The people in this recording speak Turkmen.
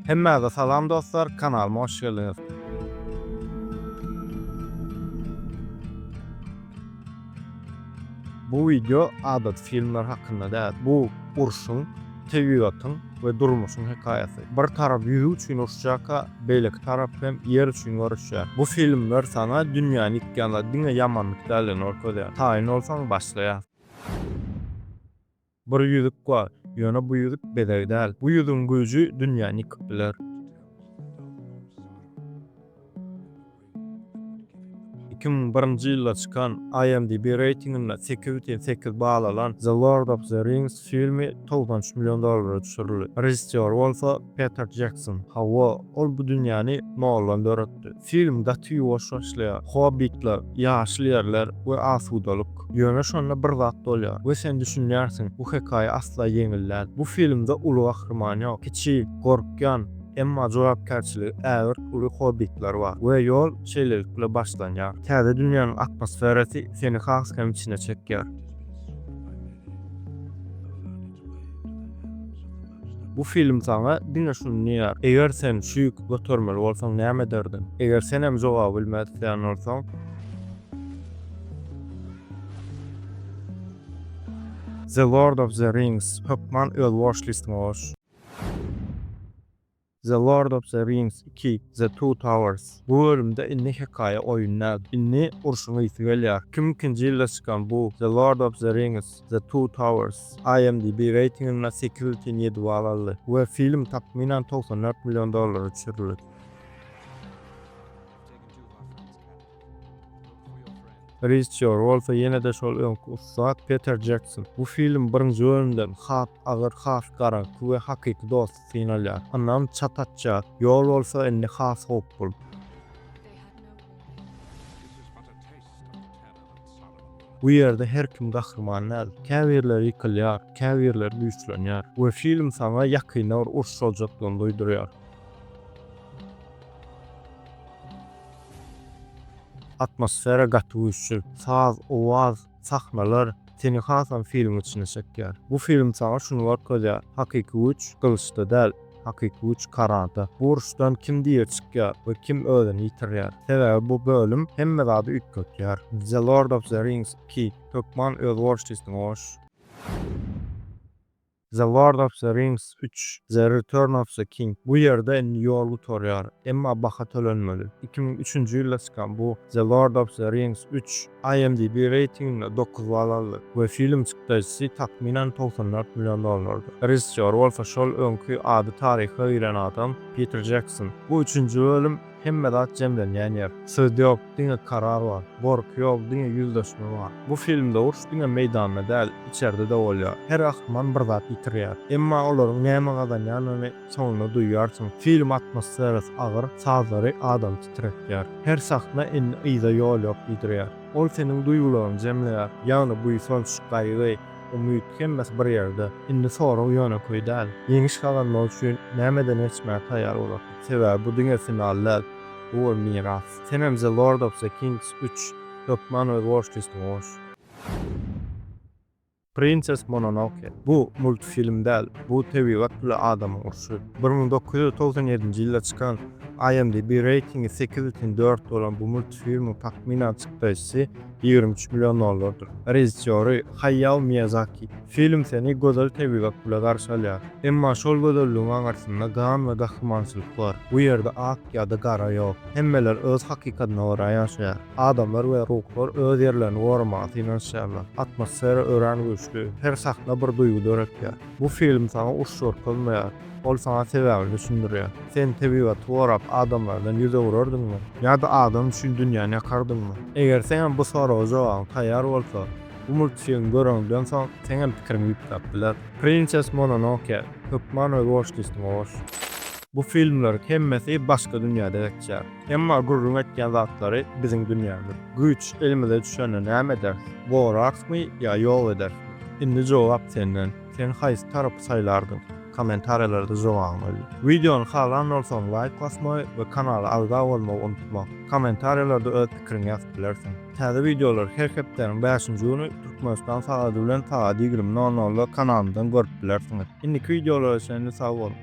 Hemmäze salam dostlar kanalyma hoş geldiňiz. Bu wideo adaty filmler hakynda däl. Bu urşuň, tebigatyň we durmuşyň hekaýasy. Bir tarap ýüzi üçin urşjakka, beýleki tarap hem ýer üçin göreşýär. Bu filmler saňa dünýäni ýykýanda diňe ýamanlyk däldigini görkezýär. Taýyn bolsaň başlaýas. Bir ýüzük bar, ýöne bu ýüzük bezeg däl. Bu ýüzügiň güýji dünýäni ýykyp biler. Iki müň birinji ýylda çykan IMDb reýtinginde sekiz bütin sekiz bal alan The Lord of the Rings filmi togsan üç million dollara düşürildi. Režissýor bolsa Peter Jekson. Hawa. Ol bu dünýäni Nollan döretdi. Film gaty ýuwaş başlaýar. Hobbitler, ýaşyl ýerler we asudalyk. Ýöne şonda bir zat bolýar we sen düşünýärsiň, bu hekaýa asla ýeňil däl. Bu filmde uly gahryman ýok. Kiçi, gorkýan, emma jogapkärçiligi ägirt uly hobbitler bar we ýol şeýlelikle başlanýar. Täze dünýäniň atmosferasy seni has hem içine çekýär. Bu film saňa diňe şuny diýýär, eger sen şu ýüki götermeli bolsaň näme ederdiň? Eger sen hem jogaby bilmez isleýän bolsaň, The Lord of the Rings, Hökman öz watchlist-iňe goş. The Lord of the Rings ii, The Two Towers. Bu bölümde indi hekaýa oýun däl. Indi urşuň ysy gelýär. Kim ikinji ýylda çykan bu The Lord of the Rings, The Two Towers IMDb reýtinginde sekiz bütin ýedi bal aldy we film takmynan togsan dört million dollara düşürildi. Režissýor bolsa ýene-de şol öňki ussat Peter Jekson. Bu film birinji bölümden has agyr, has garaňky we hakyky dos. Synalýar. Ynam çat atýar. Ýol bolsa indi has howply. Bu ýerde her kim gahryman däl. Käbirleri ýykylýar, käbirleri güýçlenýär we film saňa ýakynda bir uruş boljakdygyny duýdurýar. Atmosfera gaty güýçli. Saz, owaz, Sahnalar seni hasam filmiň içine çekýär. Bu film saňa şuny görkezýär, hakyky güýç gylyçda däl, hakyky güýç karada. Bu uruşdan kim diri çykýar we kim özüni ýitirýär? Sebäbi bu bölüm hemme zady üýtgetýär. The Lord of the Rings iki, Hökman öz gorşysyňy goş! The Lord of the Rings üç, The Return of the King, bu ýerde indi ýol gutarýar, emma baha tölenmeli. Iki müň üçünji ýylda çykan bu The Lord of the Rings üç, IMDb reýtinginde dokuz bal aldy we film çykdajysy takmynan togsan dört million dollardy. Režissýor bolsa şol öňki ady taryha giren adam Piter Jekson. Bu üçünji bölüm. Hemme zat jemlenýän ýer. Söz ýok, diňe karar bar. Gorky ýok, diňe ýüzleşme bar. Bu filmde uruş diňe meýdanda däl, içerde-de bolýar. Her gahryman bir zat ýitirýär. Emma olaryň näme gazanýanyny soňunda duýýarsyň. Film atmosferasy agyr, sazlary adamy titretýär. Her sahna indi yza ýol ýok diýdirýär. Ol seniň duýgularyňy jemleýär. Ýagny buýsanç, gaýgy, umyt hemmesi bir ýerde. Indi sorag ýönekeý däl. Ýeňiş gazanmak üçin nämeden geçmäge taýýar bolarsyň? Sebäbi bu diňe final däl. Bu bir miras. Senem The Lord of the Kings üç, hökman öz watchlist-iňe goş. Princess Mononoke, bu multfilm däl, bu tebigat bile adamyň urşy. Bir müň dokuz ýüz togsan ýedinji ýylda çykan, IMDb reýtingi sekiz bütin dört bolan bu multfilmiň takmynan çykdaýjysy, Ýigrimi üç million dollardyr. Režissýory Haýýao Miýazaki. Film seni gözel tebigat bile garşy alýar. Emma şol gözelligiň aňyrsynda gan we gahrymançylyk bar. Bu ýerde ak ýa-da gara ýok. Hemmeler öz hakykatyna görä ýaşaýar. Adamlar we ruhlar öz ýerlerini goramaga synanyşýarlar. Atmosfera örän güýçli. Her sahna bir duýgy döretýär. Bu film saňa uç görkezmeýär. Ol saňa sebäbini düşündirýär. Sen tebigaty gorap, adamlardan ýüz öwrerdiňmi? Ýa-da adam üçin dünýäni ýakardyňmy? Eger sen hem bu soraga jogabyň taýýar bolsa, bu multfilmi göreňden soň, seň hem pikiriň üýtgäp biler. Prinses Mononoke, hökman özboluşly ismi goş. Bu filmleriň hemmesi başga dünýäde geçýär. Emma gürrüň etýän zatlary biziň dünýämiz. Güýç elimize düşende näme ederis? Goraksmy ýa ýok ederismi? Indi jogap senden. Sen haýsy tarapy saýlardyň? Kommentariýalarda jogabyňy ýaz. Wideony halan bolsaň laýk basmagy we kanala agza bolmagy unutma. Kommentariýalarda öz pikiriňi ýazyp bilersiň. Täze wideolary her hepdäniň bäşinji güni Türkmenistan sagady bilen sagat ýigrimi nol nolda kanalymyzdan görüp bilersiňiz. Indiki wideolara çenli sag boluň!